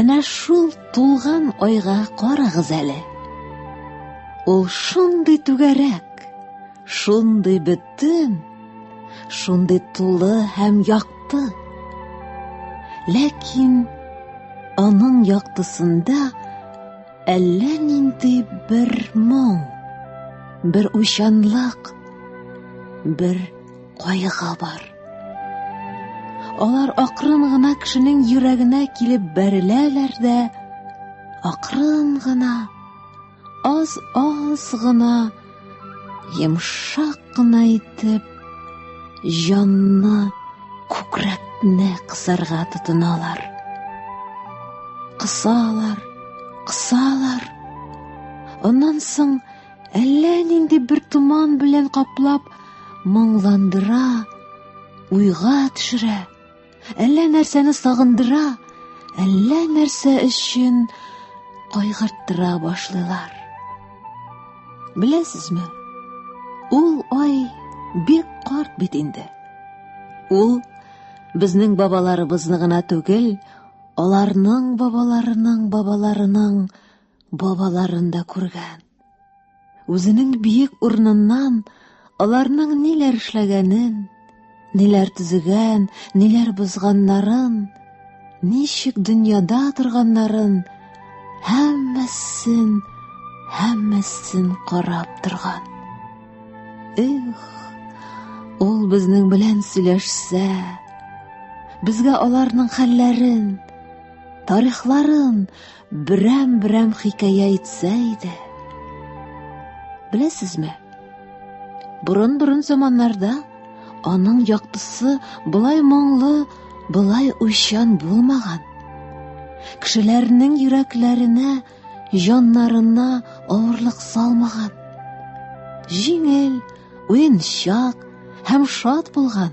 Әнә шул тулган айга карагыз әле. Ул шундый түгәрәк, шундый бөтен, шундый тулы һәм якты. Ләкин аның яктысында әллә нинди бер моң, бер уйчанлык, бер кайгы бар. Алар акрын гына кешенең йөрәгенә килеп бәреләләр дә, акрын гына, аз-аз гына, йомшак кына итеп, җанны, күкрәкне кысарга тотыналар. Кысалар, кысалар. Аннан соң Әллә нинди бер томан белән каплап, моңландыра, уйга төшерә. Әллә нәрсәне сагындыра, әллә нәрсә өчен кайгырттыра башлыйлар. Беләсезме? Ул ай бик карт бит инде. Ул безнең бабаларыбызны гына түгел, аларның бабаларының бабаларының бабаларын да күргән. Үзенең биек урыныннан аларның ниләр эшләгәнен, ниләр төзегән, ниләр бозганнарын, ничек дөньяда торганнарын, һәммәсен, һәммәсен карап торган. Эх, ул безнең белән сөйләшсә, безгә аларның хәлләрен, тарихларын, берәм-берәм хикәя әйтсә иде. Беләсезме? Борын-борын заманнарда аның яктысы былай моңлы, былай уйчан булмаган. Кешеләрнең йөрәкләренә, җаннарына авырлык салмаган. Җиңел, уенчак һәм шат булган.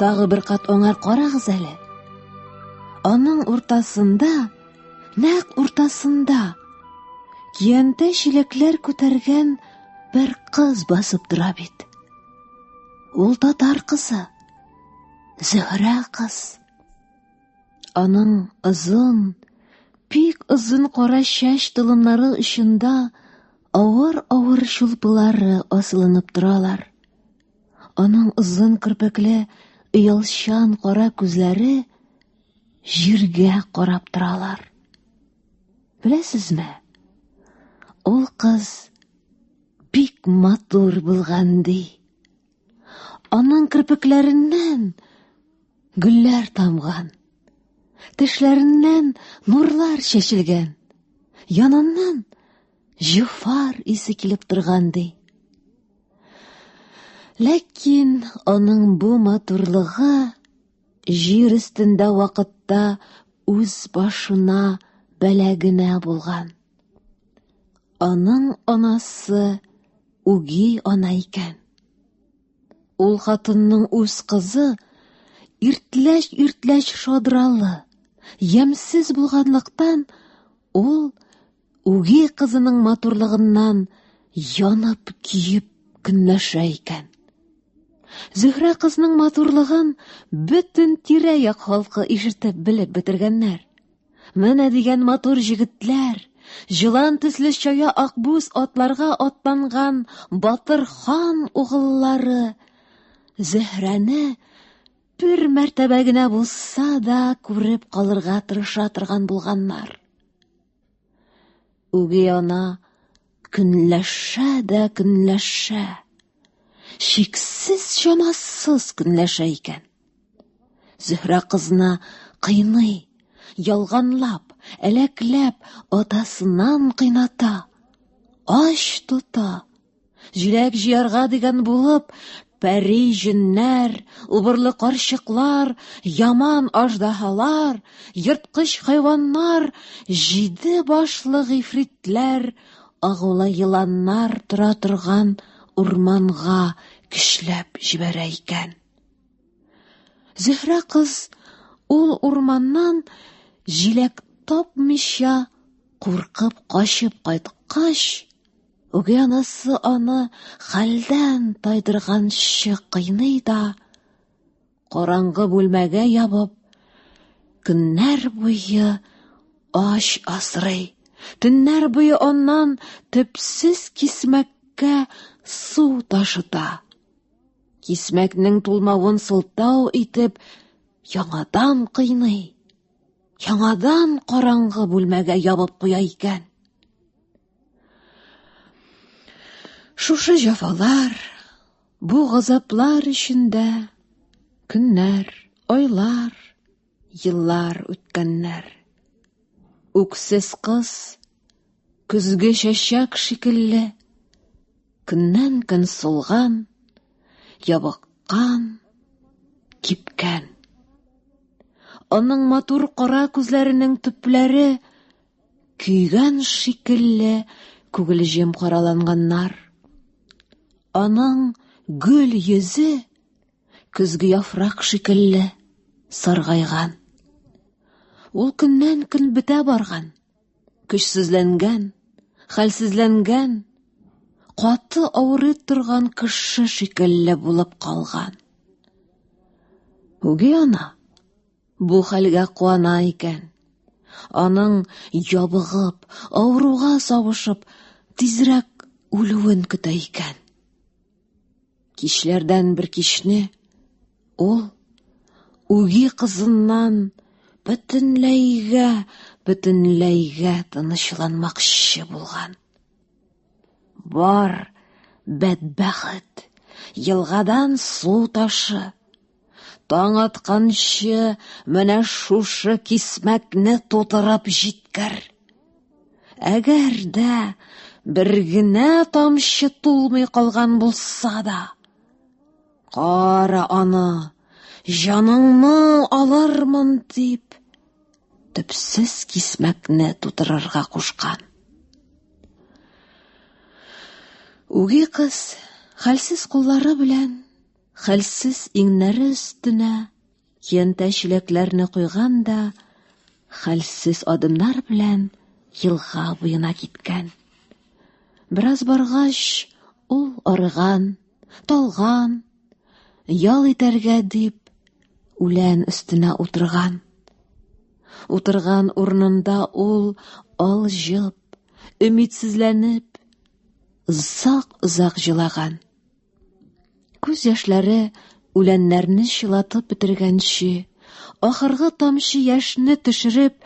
Тагы бер кат аңар карагыз әле. Аның уртасында, нәкъ уртасында киянтә чилекләр күтәргән бер кыз басып тора бит. Ул татар кызы. Зөһрә кыз. Аның озын, пик озын кара чәч толымнары очында авыр-авыр шулпылары асылынып торалар. Аның озын керпекле, оялчан кара күзләре җиргә карап торалар. Беләсезме? Ул кыз бик матур булган ди. Аның керпекләреннән гөлләр тамган. Тешләреннән нурлар чәчелгән. Яныннан җифар исе килеп торган ди. Ләкин аның бу матурлыгы җир өстендә вакытта үз башына бәла генә булган. Аның анасы үги ана икән. Ул хатынның үз кызы иртләш-иртләш шадралы, ямсез булганлыктан ул үги кызының матурлыгыннан янып киеп көнләшә икән. Зөһрә кызның матурлыгын бөтен тирә-як халкы ишетеп белеп бетергәннәр. Менә дигән матур җегетләр, җылан төсле чая акбүз атларга атланган батыр хан угыллары Зөһрәне бер мәртәбә генә булса да күреп калырга тырыша торган булганнар. Үги ана көнләшә дә көнләшә. Чиксез чамасыз көнләшә икән. Зөһрә кызны кыйный, ялганлап, әләкләп, атасыннан кыйната, ач тота. Җиләк җыярга дигән булып, пәри җеннәр, убырлы карчыклар, яман аждаһалар, ерткыч хайваннар, җиде башлы гыйфритләр, агулы еланнар тора торган урманга көчләп җибәрә икән. Зөһрә кыз ул урманнан җиләк тапмыйча куркып качып кайткач, Үги анасы аны хәлдән тайдырганчы кыйный да, караңгы бүлмәгә ябып, көннәр буе ач асрый. Төннәр буе аннан төпсез кисмәккә су ташыта. Кисмәкнең тулмавын сылтау итеп, яңадан кыйный. Яңадан караңгы бүлмәгә ябып куя икән. Шушы җафалар, бу газаплар эчендә көннәр, айлар, еллар үткәннәр. Үксез кыз көзге чәчәк шикелле көннән-көн сулган, ябыккан, кипкән. Аның матур кара күзләренең төпләре Көйгән шикелле күгелҗем караланганнар. Аның гөл йөзе көзге яфрак шикелле саргайган. Ул көннән көн бетә барган, көчсезләнгән, хәлсезләнгән, каты авырый торган кеше шикелле булып калган. Үги ана Бу хәлгә куана икән. Аның ябыгып, авыруга савышып, тизрәк үлүен көтә икән. Кичләрдән бер кичне ул үги кызыннан бөтенләйгә, бөтенләйгә тынычланмакчы булган. Бар, бәдбәхет, елгадан су ташы, Таң атканчы менә шушы кисмәкне тутырып җиткер. Әгәр дә бер генә тамчы тулмый калган булса да, кара аны, җаныңны алырмын дип, төпсез кисмәкне тутырырга кушкан. Үги кыз хәлсез куллары белән Хәлсез иңнәре өстенә киянтә чиләкләрне куйган да хәлсез адымнар белән елга буена киткән. Бераз баргач, ул арыган, талган, ял итәргә дип үлән өстенә утырган. Утырган урынында ул алҗып, өмитсезләнеп, озак-озак җылаган. Күз яшьләре үләннәрне чылатып бетергәнче, ахыргы тамчы яшьне төшереп,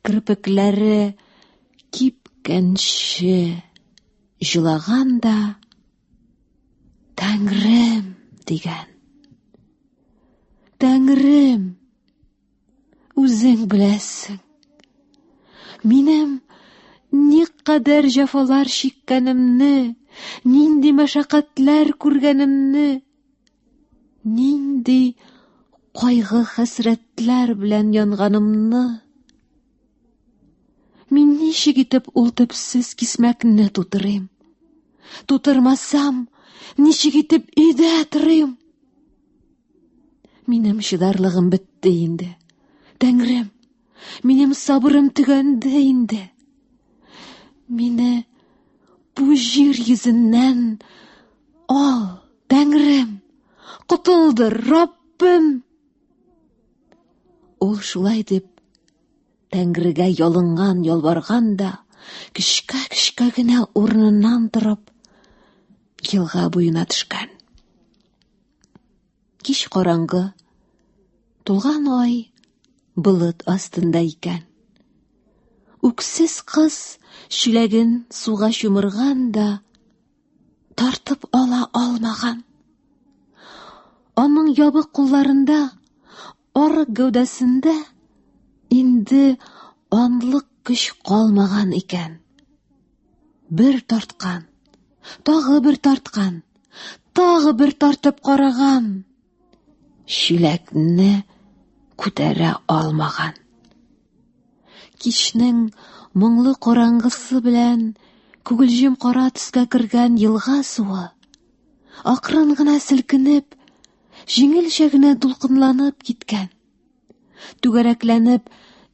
кирпекләре кипкәнче җылаган да Тәңрем дигән. Тәңрем Үзең беләсең. Минем никадәр җафалар чиккәнемне, нинди мәшәкатьләр күргәнемне, нинди кайгы хәсрәтләр белән янганымны, мин ничек итеп ул төпсез кисмәкне тутырыйм? Тутырмасам, ничек итеп өйдә торыйм? Минем чыдарлыгым бетте инде. Тәңрем, минем сабырым төгәнде инде. Мине бу җир йөзеннән ал, Тәңрем, котылдыр, Раббым. Ул шулай дип Тәңрегә ялынган, ялварган да, кечкә-кечкә генә урыныннан торып, елга буена төшкән. Кич караңгы, тулган ай болыт астында икән. Үксез кыз чүләген суга чумырган да тартып ала алмаган. Аның ябык кулларында, арык гәүдәсендә инде анлык көч калмаган икән. Бер тарткан, тагы бер тарткан, тагы бер тартып караган. Чиләкне күтәрә алмаган. Кичнең моңлы караңгысы белән күгелҗем кара төскә кергән елга суы акрын гына селкенеп, җиңелчә генә дулкынланып киткән. Түгәрәкләнеп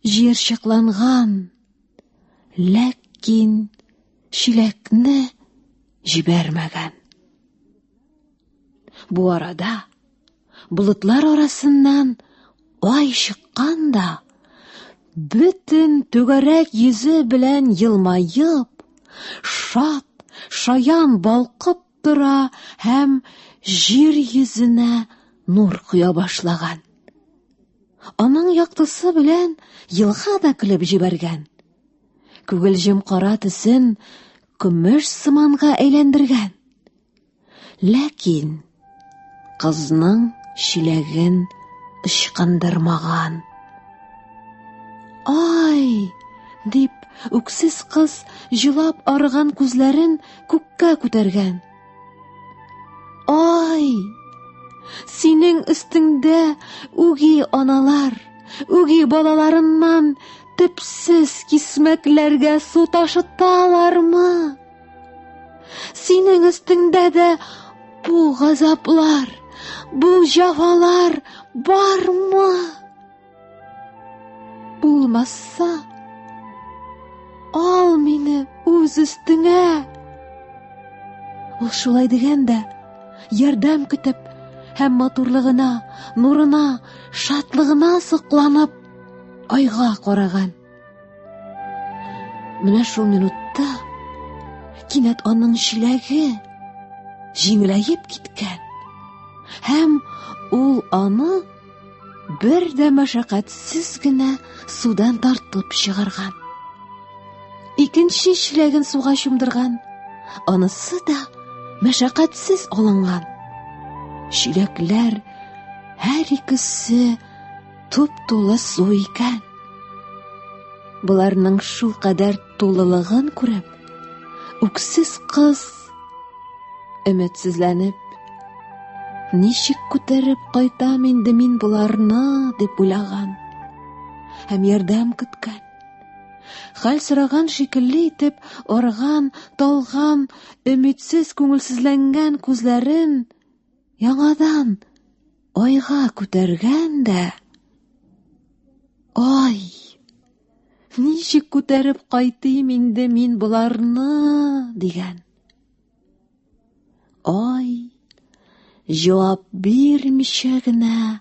җыерчыкланган Ләкин чиләкне җибәрмәгән. Бу арада болытлар арасыннан ай чыккан да бөтен түгәрәк йөзе белән елмаеп, шат, шаян балкып тора һәм җир йөзенә нур коя башлаган. Аның яктысы белән елга да көлеп җибәргән. Күгелҗем кара төсен көмеш сыманга әйләндергән. Ләкин Кызның чиләген ычкындырмаган. Ай! дип, үксез кыз җылап арыган күзләрен күккә күтәргән. Ай! Синең өстеңдә үги аналар, үги балаларыннан төпсез кисмәкләргә су ташыталармы? Синең өстеңдә дә бу газаплар, бу җавалар бармы? Булмаса, ал мине үз өстеңә. Ул шулай дигән дә, ярдәм көтеп, һәм матурлыгына, нурына, шатлыгына сокланып, айга караган. Менә шул минутта кинәт аның чиләге җиңеләеп киткән һәм ул аны бер дә мәшәкатьсез генә судан тартып чыгарган. Икенче чиләген суга чумдырган, анысы да мәшәкатьсез алынган. Чиләкләр һәр икесе Туп тулы су икән. Боларның шул кадәр тулылыгын күреп, үксез кыз өметсезләнеп, ничек күтәреп кайтам инде мин боларны дип уйлаган һәм ярдәм көткән. Хәл сораган шикелле итеп арган, талган, өметсез күңелсезләнгән күзләрен Яңадан айга күтәргән дә. Ай! Ничек күтәреп кайтыйм инде мин боларны, дигән. Ай! Җавап бирмичә генә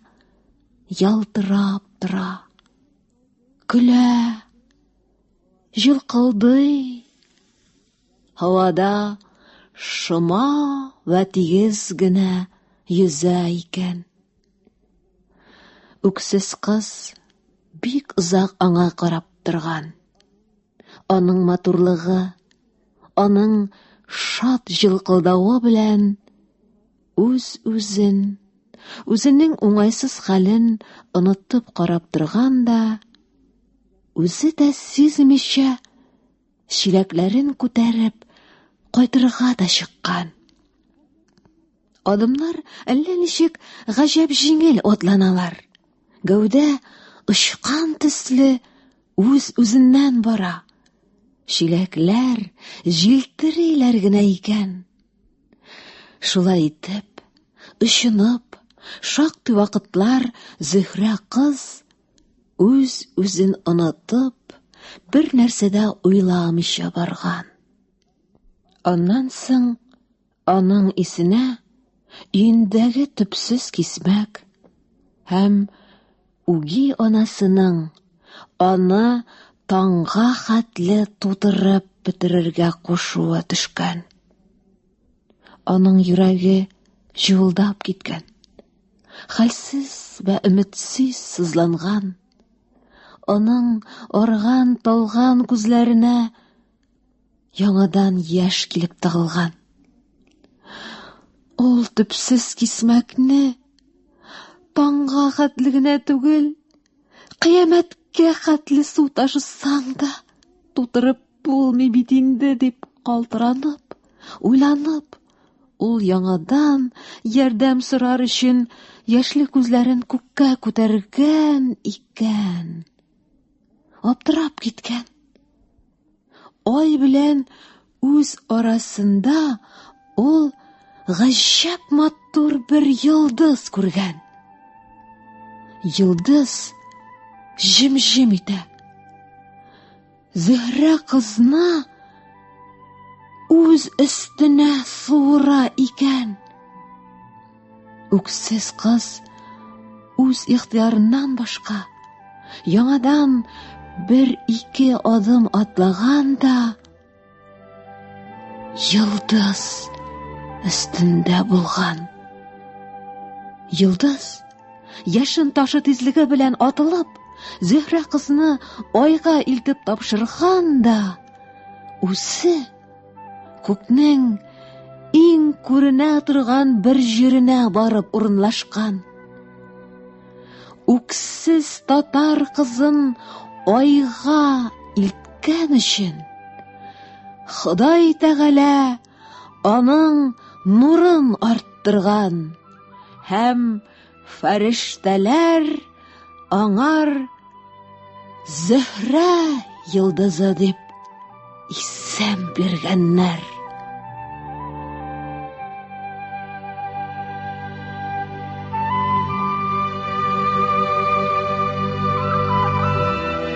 ялтырап тора. Көлә. Җылкылдый. Һавада шома вә тигез генә йөзә икән. Үксез кыз бик озак аңа карап торган. Аның матурлыгы, аның шат җылкылдавы белән үз-үзен, үзенең уңайсыз хәлен онытып карап торган да, үзе дә сизмичә чиләкләрен күтәреп, кайтырга да чыккан. Адымнар әллә ничек гаҗәп җиңел атланалар. Гәүдә очкан төсле үз-үзеннән бара. Чиләкләр җилтериләр генә икән. Шулай итеп, очынып, шактый вакытлар Зөһрә кыз Үз-үзен онытып, бер нәрсә дә уйламыйча барган. Аннан соң аның исенә өендәге төпсез кисмәк һәм үги анасының аны таңга хәтле тутырып бетерергә кушуы төшкән. Аның йөрәге җылдап киткән. Хәлсез вә өметсез сызланган, аның арган, талган күзләренә яңадан яшь килеп тыгылган. Ул төпсез кисмәкне таңга хәтле генә түгел, Кыямәткә хәтле су ташысаң да, тутырып булмый бит инде, дип калтыранып, уйланып, ул яңадан ярдәм сорар өчен яшьле күзләрен күккә күтәргән икән. Аптырап киткән. Ай белән үз арасында ул гаҗәп матур бер йолдыз күргән. Йолдыз җем-җем итә. Зөһрә кызна үз өстенә суыра икән. Үксез кыз үз ихтыярыннан башка яңадан бер ике адым атлаган да йолдыз өстендә булган. Йолдыз яшен ташы тизлеге белән атылып, Зөһрә кызны айга илтеп тапшырган да үзе Күкнең иң күренә торган бер җиренә барып урынлашкан. Үксез татар кызын айга илткән өчен Ходай Тәгалә аның нурын арттырган һәм Фәрештәләр аңар Зөһрә йылдызы дип исем биргәннәр.